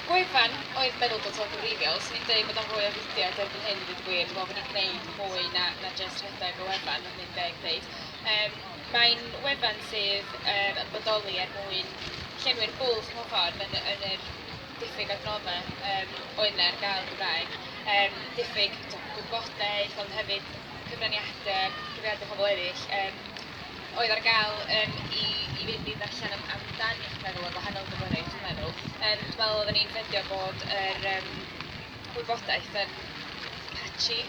Gwefan oedd meddwl-data gwreiddiol sy'n deud bod o'n fwy o fudiad erbyn hyn i ddweud y gwir, dwi'n meddwl bod ni'n gwneud mwy na na jyst rhedeg y wefan os dwi'n deg ddeud. Yym mae'n wefan sydd yym yn bodoli er mwyn llenwi'r bwlch mewn ffordd yn yn yr diffyg adnoddau yym oedd 'na ar gael yn Gymraeg. Yym diffyg t'o' gwybodaeth ond hefyd cyfraniade, cyfraniade pobl eraill yym oedd ar gael yym i i fynd i ddarllen am amdan iechyd meddwl a gwahanol gyflyriaeth dwi'n meddwl. Yym dwi'n meddwl oedden ni'n ffeindio bod yr yym wybodaeth yn patchy.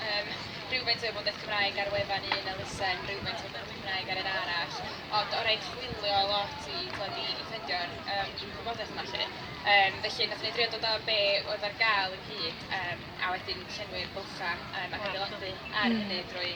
Yym rhywfaint o wybodaeth Cymraeg ar wefan un elusen, rhywfaint o wybodaeth Cymraeg ar un arall, ond o rai chwilio lot i tibod i i ffeindio'r yym wybodaeth yma 'lly. Yym felly wnaethon ni drio dod â be oedd ar gael ynghyd yym a wedyn llenwi'r bylchau yym ac adeiladu ar hynny drwy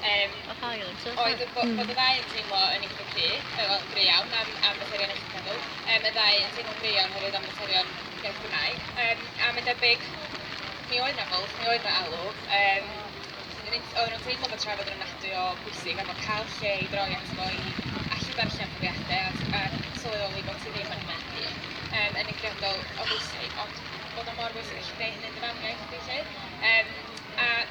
Yym, Oedd rhai o nhw'n sefyll Oedd, oedd, oedd, oedd y ddau yn teimlo yn eitha cry, yy, wel, gry iawn am, am faterion iechyd meddwl. Um, y ddau yn teimlo'n gry iawn hefyd am faterion iaith Gymraeg. Um, a mae'n debyg, mi oedd na fwlch, mi oedd na alw. Um, oedden nhw'n teimlo bod trafod yn ofnadwy o bwysig a bod cael lle i droi at fo i allu darllen profiadau a, a sylweddoli bod ti ddim yn hynny'n hun um, yn eithriadol o bwysig, ond bod o mor bwysig gallu gwneud hynny'n dy famiaith, dwi'n lle. Um, a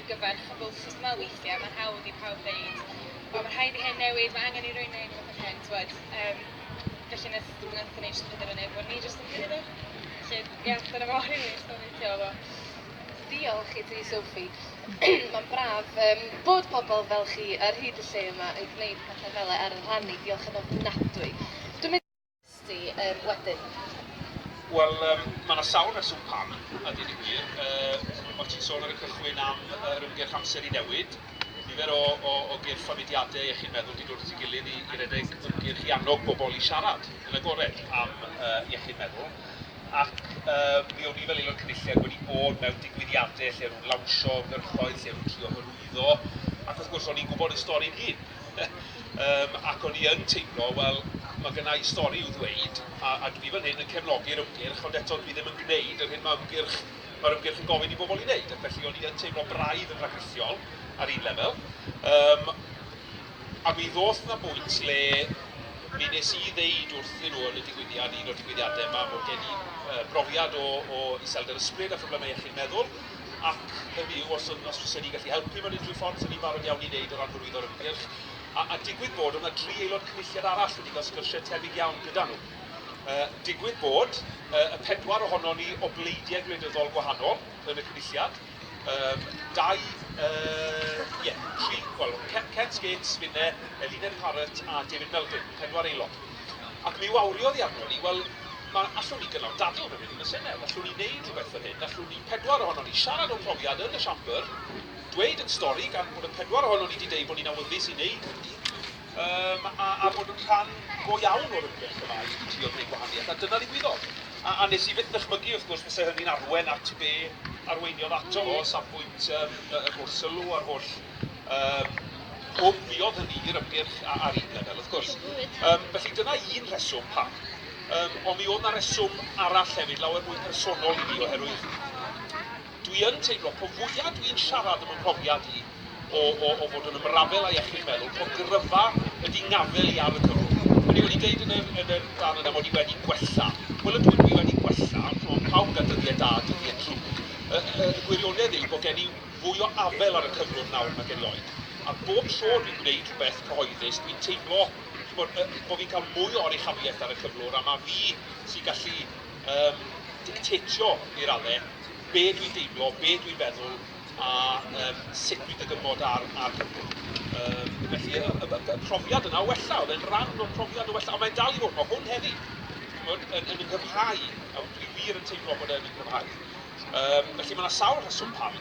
i gyfer chwbl sut ma' weithie ma'n hawdd i pawb ddeud o ma' rhaid i hyn newid ma' angen i rywun neud rwbeth a hyn t'wod yym felly neth nethon ni jyst penderfynu bo ni jyst yn cymyd o felly ie dyna fo rili stori ti a fo. Diolch i ti Sophie. Mae'n braf yym bod pobl fel chi ar hyd y lle yma yn gwneud pethe fele ar y rhanni, diolch yn ofnadwy. Dwi'n mynd Sti yym wedyn? Wel yym ma' 'na sawl rheswm pam, a deud y gwir. Yy o't ti'n sôn ar y cychwyn am yr ymgyrch Amser i Newid. Nifer o o o gyrff a mudiade iechyd meddwl 'di dod at ei gilydd i i redeg ymgyrch i annog bobol i siarad yn agored am yy iechyd meddwl. Ac yy mi o'n i fel Aelod Cynulliad wedi bod mewn digwyddiade lle o'n nhw'n lawnsio ymgyrchoedd, lle o'n nhw'n trio hyrwyddo, ac wrth gwrs o'n i'n gwbod y stori'n hun. Yym, ac o'n i yn teimlo, wel, mae gynna i stori i'w ddweud, a, a dwi fan hyn yn cefnogi'r ymgyrch, ond eto dwi ddim yn gwneud yr hyn mae ymgyrch, mae'r ymgyrch yn gofyn i bobl ei wneud, ac felly o'n i yn teimlo braidd yn rhagrithiol ar un lefel. Um, a mi ddoth na bwynt le mi nes i ddeud wrthyn nhw yn y digwyddiad, un o'r digwyddiadau yma, bod gen i uh, brofiad o, o iselder ysbryd a phroblemau iechyd meddwl, ac hynny yw, os yn, os fysen ni'n gallu helpu mewn unrhyw ffordd, fysen ni'n barod iawn i wneud o ran hyrwyddo'r ymgyrch. A, a digwydd bod, oedd yna dri aelod cynulliad arall wedi cael sgyrsiau tebyg iawn gyda nhw. Uh, digwydd bod, uh, y pedwar ohono ni o bleidiau gwleidyddol gwahanol yn y cynulliad, um, dau, uh, yeah, tri, wel, Ken Skates, finne, Eluned Parrott a David Melding, pedwar aelod. Ac mi wawriodd hi arnon ni, wel, ma, allwn ni gynnal dadl hefyd yn y Senedd, allwn ni wneud rhywbeth fel hyn, allwn ni pedwar ohonon ni siarad o'n profiad yn y Siambr, dweud ein stori, gan bod y pedwar ohonon ni 'di deud bod ni'n awyddus i wneud hynny, yym, a, a bod yn rhan go iawn o'r ymgyrch yma i i drio gwneud gwahaniaeth, a dyna ddigwyddodd. A, a wnes i fyth ddychmygu, wrth gwrs, fyse hynny'n arwain at be arweiniodd ato fo, o safbwynt yym y y gwrs sylw a'r holl, yym, Gofiodd hynny i'r ymgyrch a- ar un lefel, wrth gwrs. Yym, felly dyna un rheswm pam. Yym, ond mi oedd 'na reswm arall hefyd, lawer mwy personol i mi, oherwydd dwi yn teimlo, po fwya dwi'n siarad am y mhrofiad i o, o, o fod yn ymrafel â iechyd meddwl, po gryfa ydy ngafel i ar y cyfrwng. O'n i wedi deud yn yr, yn yr fan yna mod i wedi gwella. Wel, ydw, dwi wedi gwella, ond pawb yn cael dyddiau da a dyddiau drwg. Y, y, y gwirionedd yw bod gen i fwy o afel ar y cyflwr nawr nag erioed, a bob tro dwi'n gwneud rhywbeth cyhoeddus, dwi'n teimlo, ch'mod, yy, bo' fi'n cael mwy o oruchafiaeth ar y cyflwr, a ma' fi sy'n gallu, yym, dictetio, i radde, be' dwi'n deimlo, be' dwi'n feddwl, a, yym, sut dwi'n dygymod ar ar cyflwr. Yym, felly, y y y y profiad yna o wella, o'dd e'n ran o'r profiad o wella, a mae'n dal i fod, ma' hwn heddi, ch'mod, yn yn 'y nghyfhau, a dwi wir yn teimlo bod e'n 'y nghyfhau. Yym, felly mae 'na sawl rheswm pam.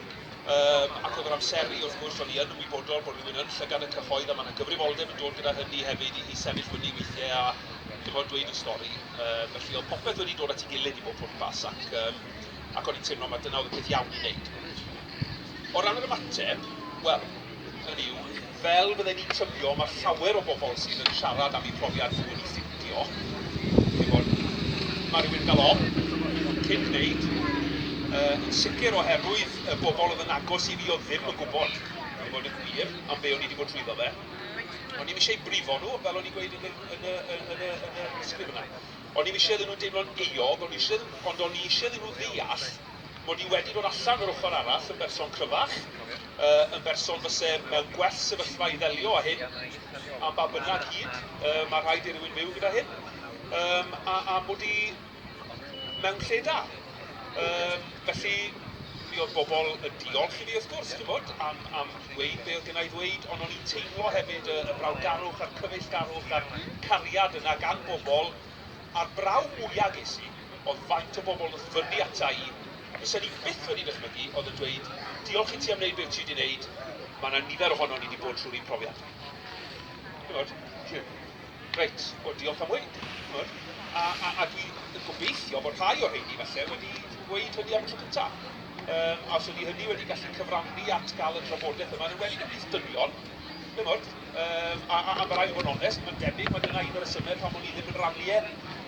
Yym, ac oedd yr amseru, wrth gwrs, o'n i yn ymwybodol bod rhywun yn llygad y cyhoedd a mae 'na gyfrifoldeb yn dod gyda hynny hefyd i i sefyll fyny weithiau a, chimod, dweud y stori. Yy, felly oedd popeth wedi dod at ei gilydd i bob pwrpas ac yym, ac o'n i'n teimlo mai dyna oedd y peth iawn i wneud. O ran yr ymateb, wel, hynny yw, Fel fydden ni'n tybio, mae llawer o bobl sydd yn siarad am eu profiad nhw wedi ffindio, chi'n gwybod, mae rhywun yn cael ofn cyn gwneud, yn sicr oherwydd y bobl oedd yn agos i fi oedd ddim yn gwybod, i fod yn wir, am be o'n i wedi bod trwyddo fe. O'n i'm eisiau brifo nhw, fel o'n i'n gweud yn y sgrip yna. O'n i'm eisiau iddyn nhw deimlo'n euog, ond o'n i eisiau iddyn nhw ddeall mod i wedi dod allan o'r ochr arall yn berson cryfach. Yn berson fyse mewn gwell sefyllfa i ddelio â hyn, am ba bynnag hyd mae rhaid i rywun fyw gyda hyn, a am mod i mewn lle da. Felly, mi oedd bobl yn diolch i fi wrth gwrs, chimod, am am ddweud be oedd gynna' i ddweud, ond o'n i'n teimlo hefyd y y brawdgarwch a'r cyfeillgarwch a'r cariad yna gan bobl, A'r braw mwya ges i oedd faint o bobl nath fynnu ata i, a fysen i byth wedi dychmygu, oedd yn dweud, diolch i ti am wneud be wyt ti wedi wneud, mae yna nifer ohonon ni wedi bod trwy'r un profiad. Ch'mod? Reit, wel diolch am weud. Ch'mod? A, a, a dwi yn gobeithio bod rhai o'r rheini falle wedi gweud hynny am y tro cynta'. Yym, a os ydi hynny wedi gallu cyfrannu at gael y drafodaeth yma, yn enwedig ymhlith dynion, Chimod, yym, a, a, a ma' raid bod yn onest, mae'n debyg mae dyna un o'r rhesymau pam o'n i ddim yn rannu e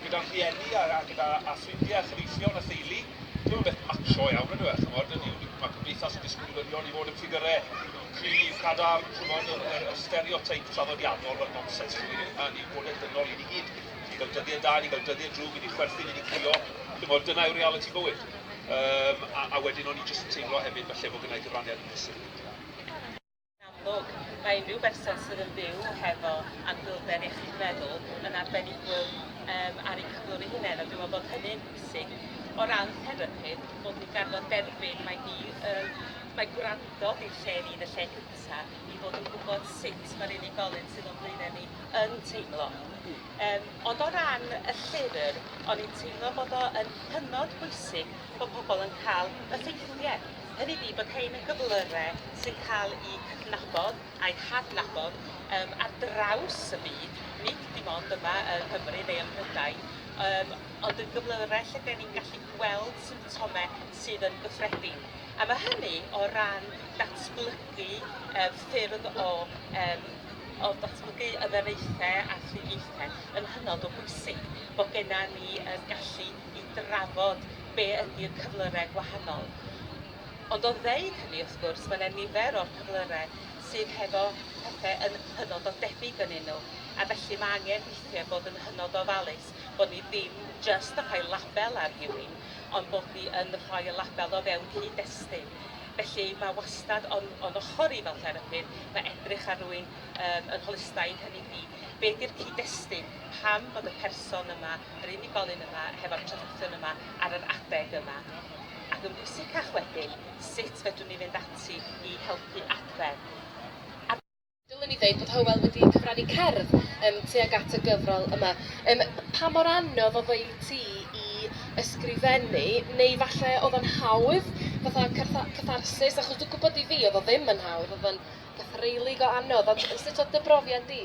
gyda'n rhieni a, a gyda a ffrindiau a chyfeillion a theulu. Dyw e ddim yn beth macho iawn yndyw e, chimod, hynny yw, mae cymdeithas yn disgwylion i fod yn ffigyrau cryf, cadarn, chimod, yr, yr, yr stereoteip traddodiadol, wel, nonsens rhywun yw hynna, ni'n bodau dynol i ni gyd, ni'n cael dyddiau da, ni'n cael dyddiau drwg, i ni chwerthin, i ni crio, chimod, dyna yw realiti bywyd. Um, a, a wedyn o'n i jyst yn teimlo hefyd falle bod gynna i gyfraniad yn brysur. Yn amlwg, mae unrhyw berson sydd yn byw hefo anhwylder iechyd meddwl yn arbenigwr um, ar eu cyflwr eu hunain, a dwi'n meddwl bod hynny'n bwysig o ran therapi, bod ni'n garfod derbyn mae ni yn mae gwrando di'r lle ni yn y lle cynta i fod yn gwybod sut mae'r unigolyn sydd o'n blaenau ni yn teimlo. Um, ond o ran y llyfr, o'n i'n teimlo bod o yn hynod bwysig bod pobl yn cael y ffeithiau Hynny ydi bod rhein yn gyflyrau sy'n cael eu cydnabod a'u hadnabod yym ar draws y byd, nid dim ond yma yng Nghymru neu ym Mhrydain, yym ond yn gyflyrau lle 'den ni'n gallu gweld symptomau sydd yn gyffredin. A mae hynny o ran datblygu yy ffyrdd o yym o ddatblygu y ddenaethau a thriniaethau yn hynod o bwysig bod gennym ni y gallu i drafod be ydi'r cyflyrau gwahanol. Ond o ddeud hynny, wrth gwrs, mae yna nifer o'r cyflyrau sydd hefo pethau yn hynod o debyg yn nhw, a felly mae angen weithiau bod yn hynod o ofalus bod ni ddim jyst yn rhoi label ar rhywun, ond bod ni yn rhoi y label o fewn cyd-destun. Felly mae wastad o'n, o'n ochr i fel therapydd, mae edrych ar rywun um, yn holistaidd, hynny ydi, be di'r cyd-destun, pam bod y person yma, yr unigolyn yma, hefo'r traddodion yma ar yr adeg yma. Ac yn bwysicach wedyn, sut fedrwn ni fynd ati i helpu adfer. A dylwn i ddeud bod Hywel wedi cyfrannu cerdd yym tuag at y gyfrol yma. Yym pa mor anodd oedd o i ti i ysgrifennu, neu falle oedd o'n hawdd, fatha cartha- catharsis? Achos dwi'n gwybod i fi oedd o ddim yn hawdd, oedd o'n gythreulig o anodd, ond sut oedd dy brofiad di?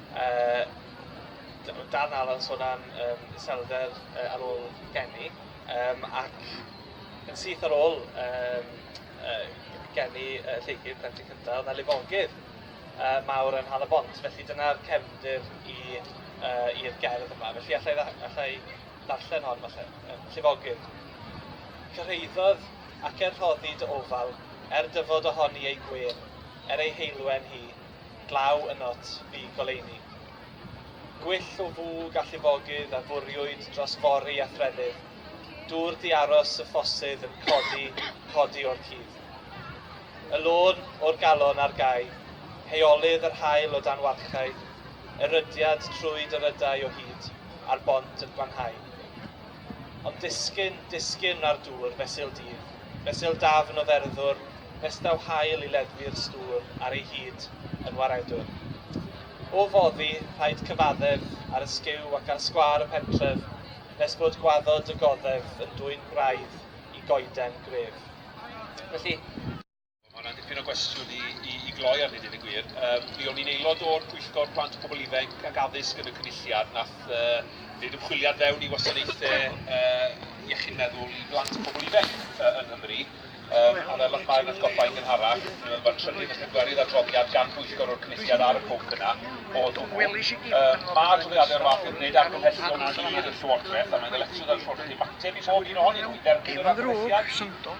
Yy o dan Alan sôn am yym iselder yy ar ôl geni yym ac yn syth ar ôl yym yy geni yy Lleucu plentyn cynta o'dd 'na lifogydd yy mawr yn Nhal-y-bont felly dyna'r cefndir i yy i'r gerdd yma felly allai dda- allai ddarllen hon falle. Yym llifogydd. Cyrhaeddodd ac er rhoddi dy ofal er dyfod ohoni ei gwên er ei heulwen hi glaw ynot fu goleuni. Gwyll o fwg a llifogydd a fwriwyd dros fori a threfydd, dŵr di-aros y ffosydd yn codi, codi o'r cudd. Y lôn o'r galon ar gau, heolydd yr haul o dan warchae, erydiad trwy dyrydau o hyd, a'r bont yn gwanhau. Ond disgyn, disgyn ar dŵr, fesul dydd, fesul dafn o dderddwr, nes daw haul i leddfu'r stŵr ar ei hyd yn waredwr. O foddi, rhaid cyfaddef ar y sgiw ac ar sgwâr y pentref, nes bod gwaddod y goddef yn dwyn gwraidd i goeden gref. Felly, Mae hwnna'n dipyn o gwestiwn i, i, i gloi arni, dweud y gwir. Um, mi o'n i'n aelod o'r Pwyllgor Plant Pobl Ifanc ac Addysg yn y Cynulliad, nath uh, wneud ymchwiliad fewn i wasanaethau uh, iechyd meddwl i blant pobl ifanc uh, yng Nghymru. Um, a fel o'ch mae'n atgoffa i'n gynharach, mae'n trefnu felly gwerydd adroddiad gan bwyllgor o'r cynulliad ar y pwnc yna o hwnnw. Um, mae adroddiadau o'r fath yn gwneud argymhellion clir y Llywodraeth a mae'n ddyletswydd ar y Llywodraeth i ymateb i bob un ohonyn nhw i dderbyn yr argymhelliad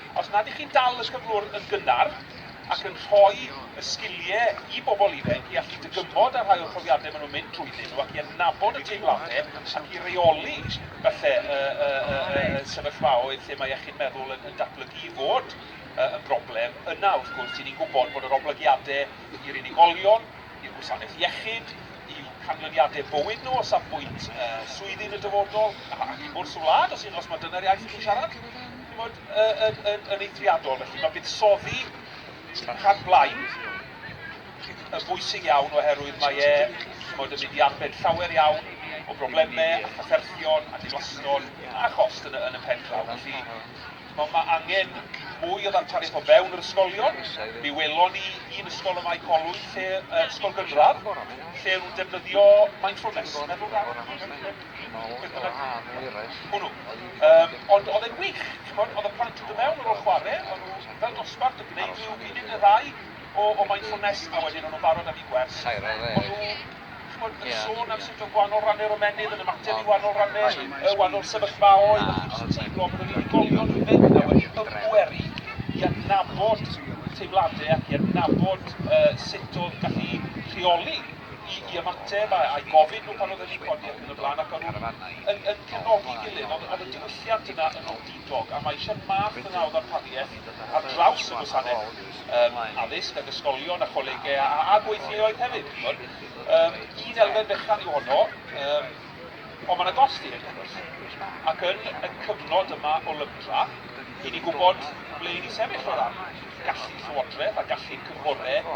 Os nad ych chi'n dal y cyflwr yn gynnar ac yn rhoi y sgilie i bobl ifanc i allu dygymod â rhai o'r profiadau maen nhw'n mynd drwyddyn nhw ac i adnabod y teimladau ac i reoli falle y y y y y sefyllfaoedd lle mae iechyd meddwl yn yn datblygu i fod y yn broblem, yna wrth gwrs ry'n ni'n gwybod bod yr oblygiadau i'r unigolion, i'r gwasanaeth iechyd, i'w canlyniadau bywyd nhw o safbwynt y swyddi yn y dyfodol ac i bwrs y wlad os hyd yn oes mai dyna'r iaith chi'n siarad. Chimod, yn, yn, yn eithriadol, felly mae buddsoddi y rhan blaid yn bwysig iawn oherwydd mae e, chimod, yn mynd i arbed llawer iawn o broblemau a chafferthion a diflaston a chost yn y, yn y pen draw. Felly, mae, mae angen mwy o ddarpariaeth o fewn yr ysgolion. Mi welon ni un ysgol y Mae Colwy, lle, uh, ysgol gynradd, lle nhw'n defnyddio mindfulness, meddwl rhan. Ond oedd e'n wych, ch'mod, oedd y plant yn dod mewn ar ôl chware, o'n nhw fel dosbarth yn gwneud rhyw funud neu ddau o o mindfulness a wedyn o'n nhw'n barod am eu gwers. O'n nhw, ch'mod, yn sôn am sut oedd gwahanol ranne'r ymennydd yn ymateb i wahanol ranne y wahanol sefyllfaoedd a chdi'n jyst yn teimlo bod yr unigolion yn mynd 'na wedi ymbweru i adnabod teimlade ac i adnabod yy sut o'dd gallu rheoli i i ymateb a i gofyn nhw pan oedden ni'n codi ac yn y blaen ac o'n nhw'n yn yn cefnogi'n gilydd ond o'dd y diwylliant yna yn wendidog a mae eisiau math yna o ddarpariaeth ar draws y gwasanaeth yym addysg ag ysgolion a cholegau a a a gweithleoedd hefyd ch'mod yym un elfen fechan yw honno yym ond mae yna gost i hyn wrth gwrs ac yn y cyfnod yma o lygdra i ni gwybod ble i ni sefyll o ran gallu llywodraeth a gallu'r cynghorau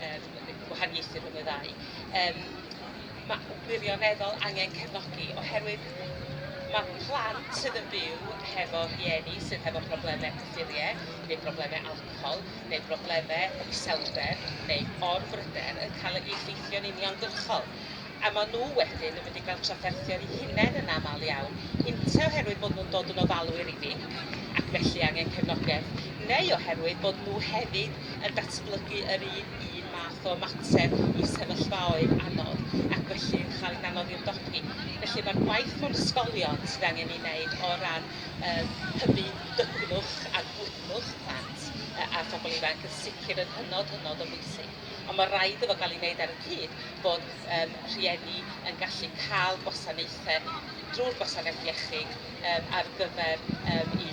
Yym yn y gwahaniaethu rhwng y ddau. Yym ma' wirioneddol angen cefnogi oherwydd ma' plant sydd yn byw hefo rhieni sydd hefo probleme cyffurie neu probleme alcohol neu brobleme iselder neu orbryder yn cael ei effeithio'n uniongyrchol. a maen nhw wedyn yn mynd i gael trafferthio eu hunain yn aml iawn, ynte oherwydd bod nhw'n dod yn ofalwyr i fi ac felly angen cefnogaeth, neu oherwydd bod nhw hefyd yn datblygu yr un un math o ymateb i sefyllfaoedd anodd ac felly yn cael hi'n anodd i ymdopi. Felly mae'r gwaith mewn ysgolion sydd angen ei wneud o ran yym hybu dygnwch a gwydnwch plant a phobl ifanc yn sicr yn hynod, hynod o bwysig. ond mae rhaid iddo gael ei wneud ar y cyd bod yym rhieni yn gallu cael gwasanaethau drwy'r gwasanaeth iechyd yym ar gyfer yym i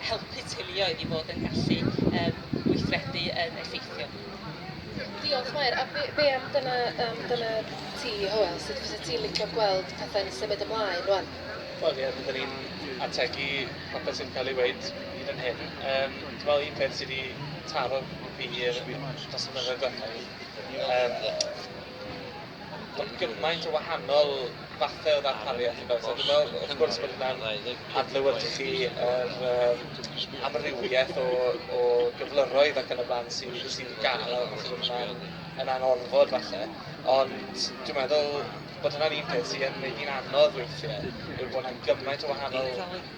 helpu teuluoedd i fod yn gallu yym gweithredu yn effeithiol. Diolch Mair, a be, be am dyna, um, dyna ti, Hywel, sut fysa ti'n licio gweld pethau'n symud ymlaen rwan? Wel ie, byddwn ni'n ategu popeth sy'n cael ei weud hyd yn hyn. Um, dwi'n meddwl un peth sydd wedi taro fi i'r dros y mynyddoedd diwethaf ni. Yym, mae gymaint o wahanol fathau o ddarpariaeth yn does. A dwi'n meddwl, wrth gwrs, bod hwnna'n adlewyrchu yr um, amrywiaeth o, o gyflyroedd ac yn y blaen sy'n sy gael a falle bod hwnna'n yn anorfod falle. Ond dwi'n meddwl bod hwnna'n un peth sy'n gwneud hi'n anodd weithiau, yw bod hwnna'n gymaint o wahanol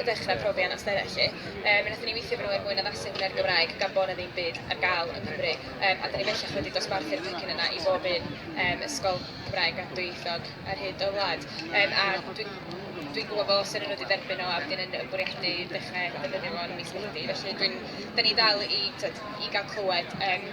i ddechrau profi anawsterau 'lly. Yy mi nathon ni weithio efo nhw er mwyn addasu hwnna i'r Gymraeg gan bo' 'na ddim byd ar ga'l yng Nghymru yym a 'dan ni bellach wedi dosbarthu'r pecyn yna i bob un yym ysgol Cymraeg a dwyieithog ar hyd y wlad yym a dwi dwi'n gwbo bo' seren nhw wedi derbyn o a wedyn yn yn bwriadu dechre defnyddio fo yn mis Medi felly dwi'n 'dan ni dal i t'od i ga'l clywed yym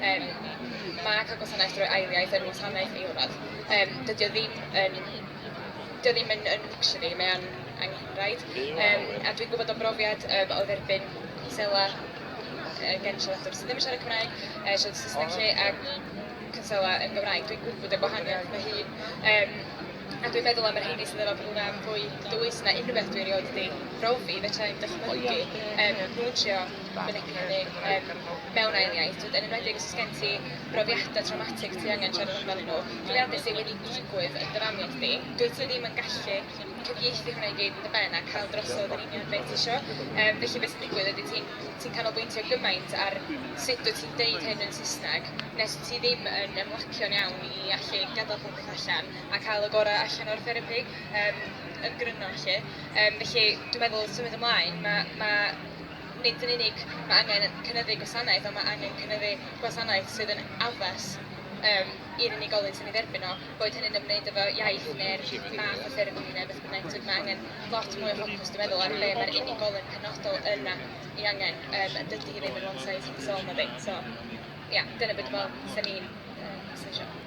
Yym mae cael gwasanaeth drwy ail iaith yn wasanaeth i wrradd. Yym dydy o ddim yn dydy o ddim yn yn luxury mae o'n angenrhaid. Yym a dwi'n gwybod o brofiad yym o dderbyn cwnsela yy gen siaradwr sydd ddim yn siarad Cymraeg, yy siarad Saesneg 'lly a cwnsela yn Gymraeg. Dwi'n gwybod y gwahaniaeth fy hun. Yym a dwi'n meddwl am y rheini sydd efo profiad fwy dwys na unrhyw beth dwi erioed 'di brofi fedra i'm dychmygu yym nhw'n trio mewn ail iaith, yn enwedig os gen ti brofiadau traumatic ti angen siarad amdanyn nhw, profiadau sydd wedi digwydd yn dy famiaith di, dwyt ti ddim yn gallu cyfieithu hwnna i gyd yn dy ben a cael drosodd yn union beth ti isio. Um, felly beth sy'n digwydd ydy ti'n ti canolbwyntio gymaint ar sut dwyt ti'n deud hyn yn Saesneg nes ti ddim yn ymlacio'n iawn i allu gadael popeth allan a cael y gorau allan o'r therapi um, yn gryno felly. Um, felly dwi'n meddwl symud ymlaen, mae ma Nid yn unig mae angen cynyddu gwasanaeth, ond mae angen cynyddu gwasanaeth sydd yn addas um, i'r unigolyn sy'n ei dderbyn o, boed hynny'n ymwneud efo iaith neu'r math o therapi neu beth bynnag. Tyd, mae angen lot mwy o ffocws, dwi'n meddwl, ar be mae'r unigolyn penodol yna i angen. Um, dydy hi ddim yn one size fits all, na ddim. So, ia, yeah, dyna beth dwi'n meddwl, sy'n ni'n uh,